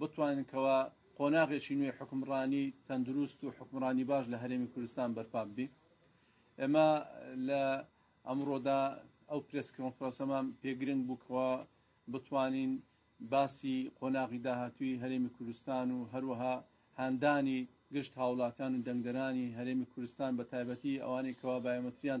بتوانین کەوا قۆناغێکی نوێی حکومڕانی تەندروست و حکومڕانی باش لە هەرێمی کوردستان بەرپا ببی ئێمە لە ئەمڕۆدا ئەو پرس کۆنفرەسەمان پێگرنگ بووکەوە بتوانین باسی قۆناغی داهاتوی هەرێمی کوردستان و هەروەها هاندانی گشت هاوڵاتان و دەنگدەرانی هەرێمی کوردستان بە تایبەتی ئەوانێکەوە بایۆمەتریان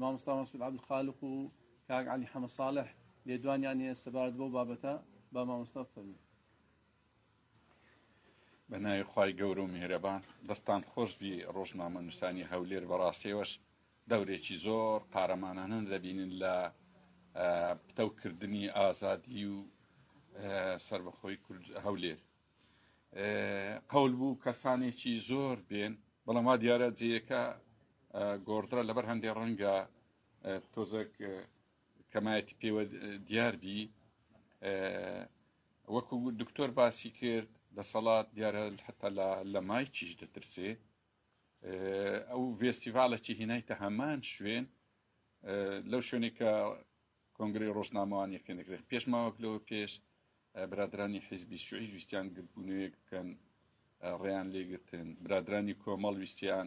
مامۆستا مەسعود عبدالخالق و کاک علی حەمە ساڵح لێدوانیان هەیە سەبارەت بەو بابەتە با مامۆستا فەرموو بە ناوی خی گەور و میهرەبان دەستان خۆش بی ڕۆژنامە نووسانی هەولێر بەڕاستێوەش دەورێکی زۆر قارەمانانە دەبینن لە پتەوکردنی ئازادی و سربەخۆی کورد هەولێر قەول بوو کەسانێکی زۆر بێن بەڵام وا دیارە جێیەکە گۆڕدرا لەبەر هەندێک ڕەنگە تۆزەک کەمایەتی پێوە دیاربی وەکو دکتۆر باسی کرد دەسەڵات دیارە حتا لە مای چیش دەترسێ ئەو ڤێستیڤالەکی هینایتە هەمان شوێن لەو شوێنێکە کۆنگرەی ڕۆژنامەوان یەکێنەکرێت پێش ماوەک لەوە پێش برادرانی حیزبی شوعیش ویستیان گردبوونەوەیەک بکەن ڕێیان لێگرتن برادرانی کۆمەڵ ویستیان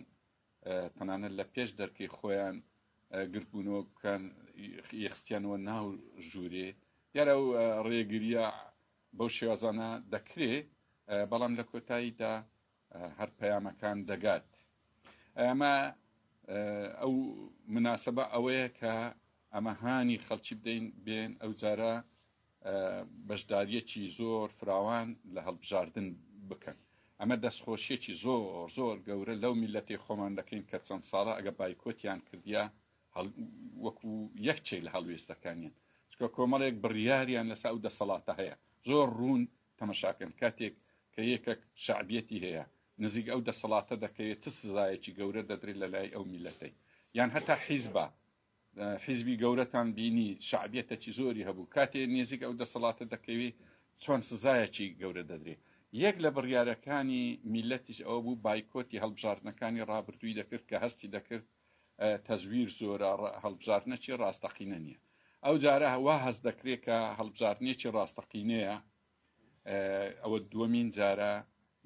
تەنانەت لە پێش دەرکەی خۆیان گردبوونەوە بکەن یەخستیانەوە ناو ژوورێ دیارە و ڕێگریە بەو شێوازانە دەکرێ بەڵام لە کۆتاییدا هەر پەیامەکان دەگات ئەمە ئەو مناسبە ئەوەیە کە ئەمە هانی خەڵکی بدەین بێن ئەو جارە بەشداریەکی زۆر فراوان لە هەڵبژاردن بکەن ئەمە دەستخۆشیەکی زۆر زۆر گەورە لەو میلەتی خۆمان دەکەین کە چەند ساڵە ئەگە بایکۆتیان کردیا وەکو یەکچەی لە هەڵوێستەکانیان چکە کۆمەڵێک بڕیاریان لەسا و دەسەڵاتە هەیە زۆر ڕوون تەمەشاکەن کاتێک کە یەکەک شەعبیەتی هەیە نزیک ئەو دەسەڵاتە دەکەوێت چ سزایەکی گەورە دەدرێت لە لای ئەو میلەتەی یان هەتا حیزبە حیزبی گەورەتان بینی شعبیەتەکی زۆری هەبوو کاتێ نێزیک ئەو دەسەڵاتە دەکەوی چۆن سزایەکی گەورە دەدرێت یەک لە بڕیارەکانی میلەتیش ئەوە بوو بایکۆتی هەڵبژاردنەکانی ڕابردووی دەکرد کە هەستی دەکرد تەزویر زۆرە هەڵبژاردنەکی ڕاستەقینە نییە ئەو جارە وا هەست دەکرێت کە هەڵبژاردنێکی ڕاستەقینەیە ئەوە دووەمین جارە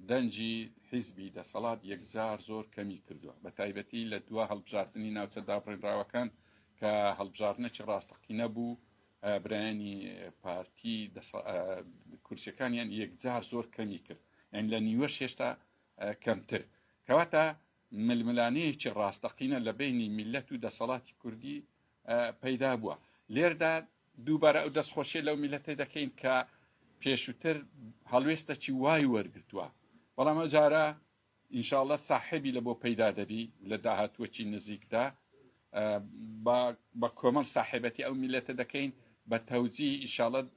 دەنجی حیزبی دەسەڵات یەکجار زۆر کەمی کردووە بە تایبەتی لە دوا هەڵبژاردننی ناوچە دابڕێنراوەکان کە هەڵبژاردنەکی ڕاستەقینە بوو برایانی پارتی کورسەکانیان یەکجار زۆر کەمی کرد ئەن لە نیوەش هێشتا کەمتر کەواتە ململانێیەکی ڕاستەقینە لە بەینی میللەت و دەسەڵاتی کوردی پەیدا بووە لێردا دووبارە ئەو دەستخۆشیە لەو میلەتێ دەکەین کە پێشوتر هەڵوێستەکی وای وەرگتووە بەڵام ئەو جارە ئینشاالله ساحبی لە بۆ پەیدا دەبی لە داهاتوەکی نزیکدا بە کۆمەڵ ساحبەتی ئەو میلەتە دەکەین بە تەوجی ئیشاڵەت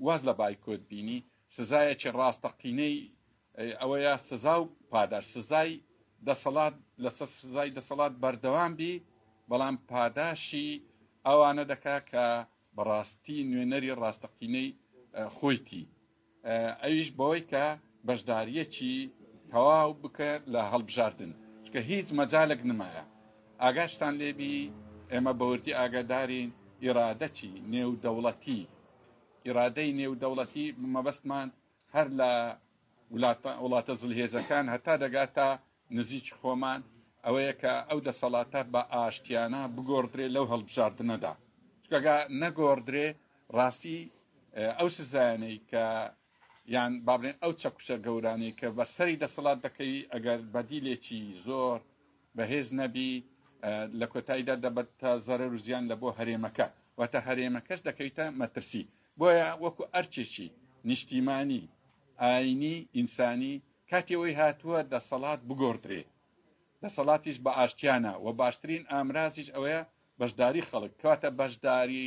واز لە بایکۆت بینی سزایەکی ڕاستەقینەی ئەی ئەوەیە سزا و پاداش سزای دەسەڵات لەسەر سزای دەسەڵات بەردەوام بی بەڵام پاداشی ئەوانە دەکا کە بەڕاستی نوێنەری ڕاستەقینەی خۆیتی ئەویش بەوەی کە بەشداریەکی تەواو بکە لە هەڵبژاردن چکە هیچ مەجالێک نمایە ئاگاشتان لێبی ئێمە بەوردی ئاگادارین ئیرادەچی نێودەوڵەتی ئیرادەی نێودەوڵەتی مەبەستمان هەر لە وڵاتە زلهێزەکان هەتا دەگاتە نزیکی خۆمان، ئەوەیە کە ئەو دەسەڵاتە بە ئاشتیانە بگۆڕدرێ لەو هەڵبژاردنەدا، چونکە گەر نەگۆڕدرێ ڕاستی ئەو سزایانەی کە یان با بڵێن ئەو چەکوچە گەورانەی کە بە سەری دەسەڵات دەکەوی ئەگەر بەدیلێکی زۆر بەهێز نەبی لە کۆتاییدا دەبێتە زەرەر و زیان لە بۆ هەرێمەکە واتە هەرێمەکەش دەکەویتە مەترسی بۆیە وەکو ئەرکێکی نیشتیمانی، ئایینی، ئینسانی، کاتی ئەوەی هاتووە دەسەڵات بگۆڕدرێ، دەسەڵاتیش بە ئاشتیانە و باشترین ئامرازیش ئەوەیە بەشداری خەڵک، کەواتە بەشداری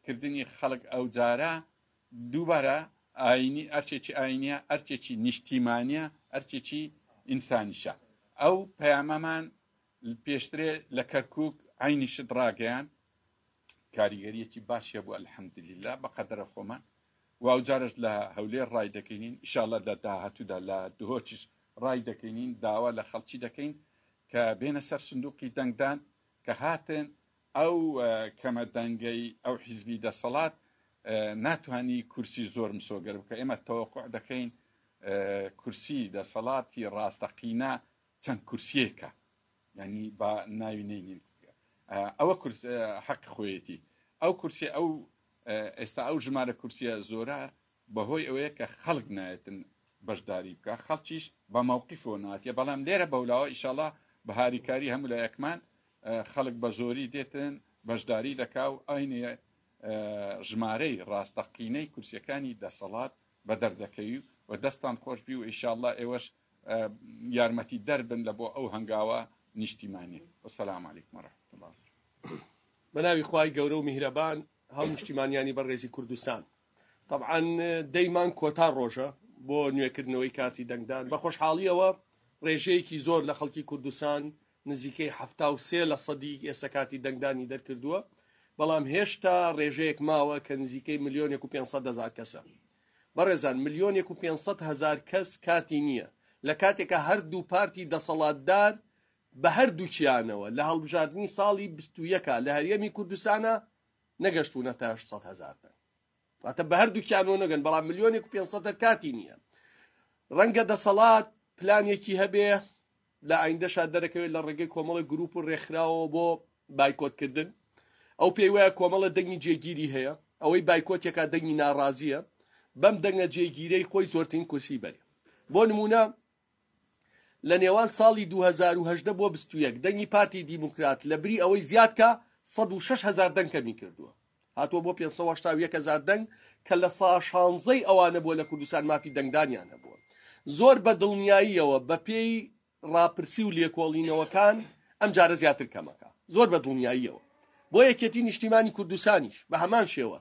کردنی خەڵک ئەوجارە دووبارە ئایینی، ئەرکێکی ئایینییە، ئەرکێکی نیشتیمانییە، ئەرکێکی ئینسانیشە. ئەو پەیامەمان پێشترێ لە کەرکووک عەینی شت ڕاگەیاند، کاریگەریەکی باشی هەبوو الحمدللە بەقەدەرە خۆمان و ئەوجارەش لە هەولێر ڕای دەکەینین ئیشاڵە لە داهاتوودا لە دهۆکیش ڕای دەکەینین داوا لە خەڵکی دەکەین کە بێنە سەر سندوقی دەنگدان کە هاتن ئەو کەمە دەنگەی ئەو حیزبی دەسەڵات ناتوانانی کورسی زۆر مسۆگەر بکە ئێمە تەوەقع دەکەین کورسی دەسەڵاتی ڕاستەقینە چەند کورسیەکە یانی با ناوی نینین ئەوە کورس حەق خۆیەتی ئەو کورسی ئەو ئێستا ئەو ژمارە کورسیە زۆرە بەهۆی ئەوەیە کە خەڵک نایەتن بەشداری بکە خەڵکیش بە ماوقی فۆناتە بەڵام لێرە بەولاوە ئیشەڵا بە هاریکاری هەموو لە یەکمان خەڵک بە زۆری دێتن بەشداری دەکا و ئاینە ژمارەی ڕاستەقینەی کورسەکانی دەسەڵات بە دەردەکەوی و دەستان خۆشبی و ئیشاءله ئێوەش یارمەتی دەر بن لە بۆ ئەو هەنگاوە نیشتیمانێ وسلام علیکم و رحمت الله بەناوی خوای گەورە و میهرەبان هەڵ نیشتیمانیانی بەڕێزی کوردستان طبعاان دەیمان کۆتا ڕۆژە بۆ نوێکردنەوەی کارتی دەنگدان بە خۆشحاڵیەوە ڕێژەیەکی زۆر لە خەڵکی کوردستان نزیکەی ه سێ لە سەدی ئێستا کارتی دەنگدانی دەرکردووە بەڵام هێشتا ڕێژەیەک ماوە کە نزیکەی ملیۆنێک و 500 هزار کەسە بەڕێزان ملیۆنێک و پێنج سەد هەزار کەس کارتی نییە، لە کاتێکا هەردوو پارتی دەسەڵاتدار بە هەردووکیانەوە لە هەڵبژاردنی ساڵی بیست و یەک لە هەرێمی کوردستانا نەگەشتوونەتە هەشت سەد هەزار دەنگ. واتە بە هەردووکیانەوە نەگەن، بەڵام ملیۆنێک و پێنج سەد هەر کارتی نییە. ڕەنگە دەسەڵات پلانێکی هەبێ، لە ئایندەشا دەرەکەوێت لە ڕێگەی کۆمەڵە گروپ و ڕێکخراوەوە بۆ بایکۆتکردن ئەو پێی وایە کۆمەڵە دەنگی جێگیری هەیە ئەوەی بایکۆتێکا دەنگی ناڕازیە بەم دەنگە جێگیرەی خۆی زۆرترین کورسی بەرێ بۆ نمونە لە نێوان ساڵی 2010 بۆ 21 دەنگی پارتی دیموکرات لە بری ئەوەی زیادکە 106 هزار دەنگ کەمی کردووە هاتووە بۆ پێنج سەد و هەشتا و یەک هەزار دەنگ کە لە سا شانزەی ئەوانە بووە لە کوردستان مافی دەنگدانیان هەبووە. زۆر بە دڵنیاییەوە بە پێی ڕاپرسی و لێکۆڵینەوەکان ئەم جارە زیاتر کەمەکە. زۆر بە دڵنیاییەوە. بۆ یەکێتی نیشتیمانی کوردستانیش بە هەمان شێوە.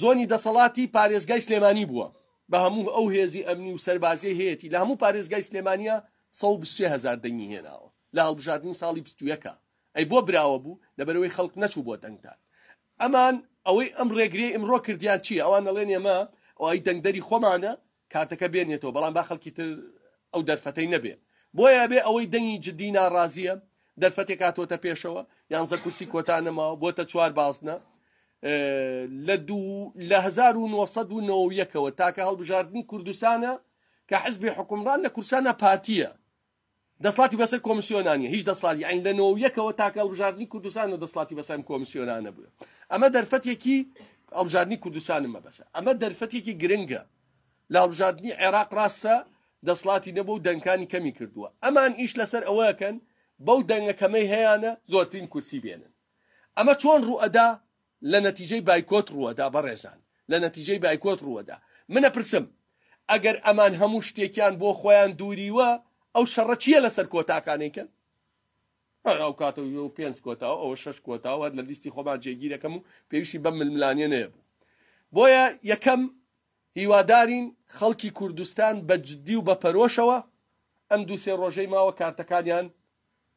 زۆنی دەسەڵاتی پارێزگای سلێمانی بووە. بە هەموو ئەو هێزی ئەمنی و سەربازیەی هەیەتی لە هەموو پارێزگای سلێمانیە سەد و بیست و سێ هەزار دەنگی هێناوە لە هەڵبژاردنی ساڵی بیست و یەک ئەی بۆ براوە بوو لەبەرەوەی خەڵک نەچوو بۆ دەنگدان ئەمان ئەوەی ئەم ڕێگرێ ئمڕۆ کردیان چیە ئەوان نەڵێن ئێمە ئەوی دەنگدەری خۆمانە کارتەکە بێنێتەوە بەڵام با خەڵکی تر ئەو دەرفەتەی نەبێ بۆیە بێ ئەوەی دەنگی جددی ناڕازیە دەرفەتێک هاتۆتە پێشەوە یانزە کورسی کۆتا نەماوە بۆتە چوار بازنە لە دوو لە 1990ەوە تاکە هەڵبژاردننی کوردستانە کە حزبی حکومڕان لە کورسانە پارتیە دەسڵاتی بەسەر کۆمسیۆنا نیە هیچ دەسڵاتی یانی لە نۆ یەکەوە تاکە هەڵبژاردنی کوردستانە دەسڵاتی بەسەر ئەم کۆمسیۆنانە بووە ئەمە دەرفەتێکی هەڵبژاردنی کوردستانم مەبەسە ئەمە دەرفەتێکی گرنگە لە هەڵبژاردنی عێراق ڕاستە دەسڵاتی نەبوو و دەنکانی کەمی کردووە ئەمان ئیش لەسەر ئەوەکەن بەو دەنگەکەمەی هەیەە زۆرترین کورسی بێنن ئەمە چۆن ڕوئەدا لە نەتیجەی بایکۆت ڕووەدا بەڕێزان لە نەتیجەی بایکۆت ڕووەدا من ئەپرسم ئەگەر ئەمان هەموو شتێکیان بۆ خۆیان دووریوە ئەو شەڕە چیە لەسەر کۆتاکانەی کەن هەر ئەو کاتە و پێنج کۆتا و ئەوە شەش کۆتا و هەر لە لیستی خۆمان جێگیرەکەم و پێویستی بەم ململانیە نەیەبوو بۆیە یەکەم هیوادارین خەڵکی کوردستان بە جددی و بە پەرۆشەوە ئەم دوو سێ ڕۆژەی ماوە کارتەکانیان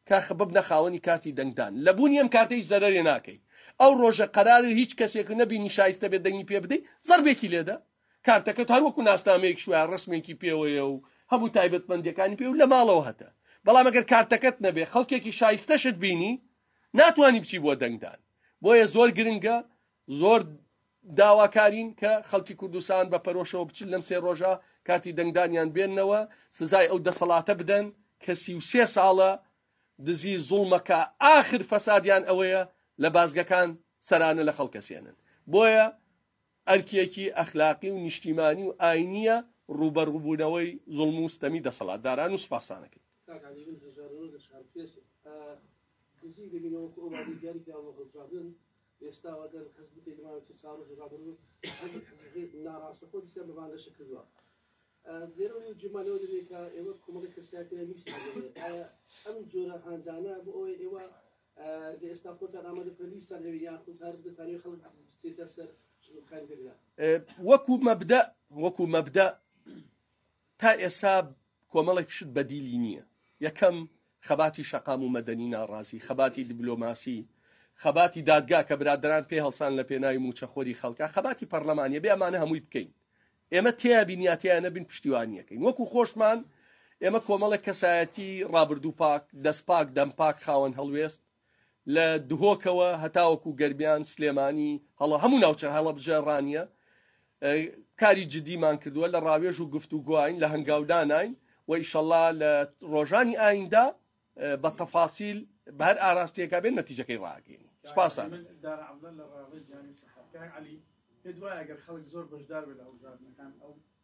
کاخ ببنە خاوەنی کارتی دەنگدان لە بوونی ئەم کارتە هیچ زەرەرێ ناکەی ئەو ڕۆژە قەرارە هیچ کەسێک نەبینی شایستە بێت دەنگی پێ بدەی زەڕبێکی لێدە کارتەکەت هەر وەکو ناسنامەیەکش وایە ڕەسمێکی پێوەیە و هەموو تایبەتمەندیەکانی پێ و لە ماڵەوە هەتە بەڵام ئەگەر کارتەکەت نەبێ خەڵکێکی شایستەشت بینی ناتوانی بچی بۆ دەنگدان بۆیە زۆر گرنگە زۆر داواکارین کە خەڵکی کوردستان بە پەرۆشەوە بچن لەم سێ ڕۆژە کارتی دەنگدانیان بێننەوە سزای ئەو دەسەڵاتە بدەن کە سی و سێ ساڵە دزی زوڵمەکە ئاخر فەسادیان ئەوەیە لە بازگەکان سەرانە لە خەڵکەسێنن بۆیە ئەرکێکی ئەخلاقی و نیشتیمانی و ئاینیە ڕوبەڕوبوونەوەی زوڵم و ستەمی دەسەڵات داران و سپاسانەکەی دزی دەبینەوە کە ئەوانی دیاریکراوە هەڵبژاردن ئێستا و ئەگەر هەست بکەیت لە ماوەی چەند ساڵ و ڕابڕوو هەندێک حزبەکەی ناڕاستە خۆ دیسان بە بانگەشە کردووە لێرەوە و جێمان لەوە دەبێت کە ئێوە کۆمەڵی کەساتیان میست ئەم جۆرە هاندانە بۆ ئەوەی ئێوە لە ئێستا خۆتان ئامادە بکەن لیستان هەوێ یاخود هەر دەتانێ خەڵک بچێتە سەر چونکاری دەگرە وەکو مەبدە وەکو مەبدە تا ئێستا کۆمەڵێک شت بەدیلی نییە یەکەم خەباتی شەقام و مەدەنی ناڕازی خەباتی دیبلۆماسی خەباتی دادگا کە برادران پێ هەڵسان لە پێناوی موچەخۆری خەڵکە خەباتی پەرلەمانە بێ ئەمانە هەمووی بکەین ئێمە تیا بینیاتیان نەبین پشتیوانیەکەین وەکو خۆشمان ئێمە کۆمەڵێک کەسایەتی ڕابردوو پاک دەست پاک دەم پاک خاوەن هەڵوێست لە دهۆکەوە هەتاوەکو گەرمیان، سلێمانی، هەڵە هەموو ناوچە هەڵەبجە ڕانیە کاری جدیمان کردووە لە ڕاوێژ و گفت و گوین لە هەنگاودانین و ئیشەڵا لە ڕۆژانی ئایندا بە تەفاسیل بەر ئاراستەکە بێن نەتیجەکەی ڕاگەین سپاسان پێت وایە گەر خەڵک زۆر بەشدار بێت لە هەڵبژاردنەکان ئەو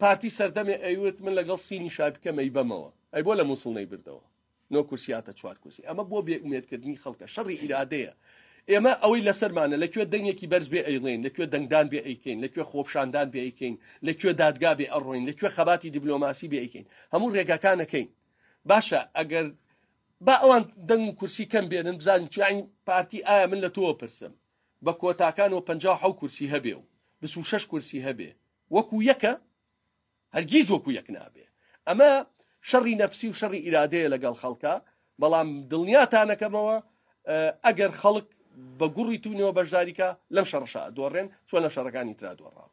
پارتی سەردەمێ ئەیوت من لەگەڵ سینی شای بکەم ئەیبەمەوە ئەی بۆ لە مووسڵ نەیبردەوە نۆ کورسیاتە چوار کورسی ئەمە بۆ بێ ئومێدکردنی خەڵکە شەڕی ئیرادەیە ئێمە ئەوەی لەسەرمانە لەکوێ دەنگێکی بەرز بێ ئەیڵێن لەکوێ دەنگدان بێ ئەیکەین لەکوێ خۆپشاندان بێ ئەیکەین لەکوێ دادگا بێ ئەڕۆین لەکوێ خەباتی دیبلۆماسی بێ ئەیکەین هەموو ڕێگاکانەکەین باشە ئەگەر با ئەوان دەنگ و کورسی کەم بێنن بزانین چیانی پارتی ئایا من لە تۆوە پرسم بە کۆتاکان و پەنجا و حەوت کورسی هەبێ و بیست و شەش کورسی هەبێ وەکو یەکە؟ هەرگیز وەکو یەک نابێ. ئەمە شەڕی نەفسی و شەڕی ئیرادەیە لەگەڵ خەڵکا، بەڵام دڵنیاتانەکەمەوە ئەگەر خەڵک بە گوڕی تونەوە بەشداریکا لەم شەڕەشا ئەدۆڕێن چۆن لە شەڕەکانی ترا دۆڕاون.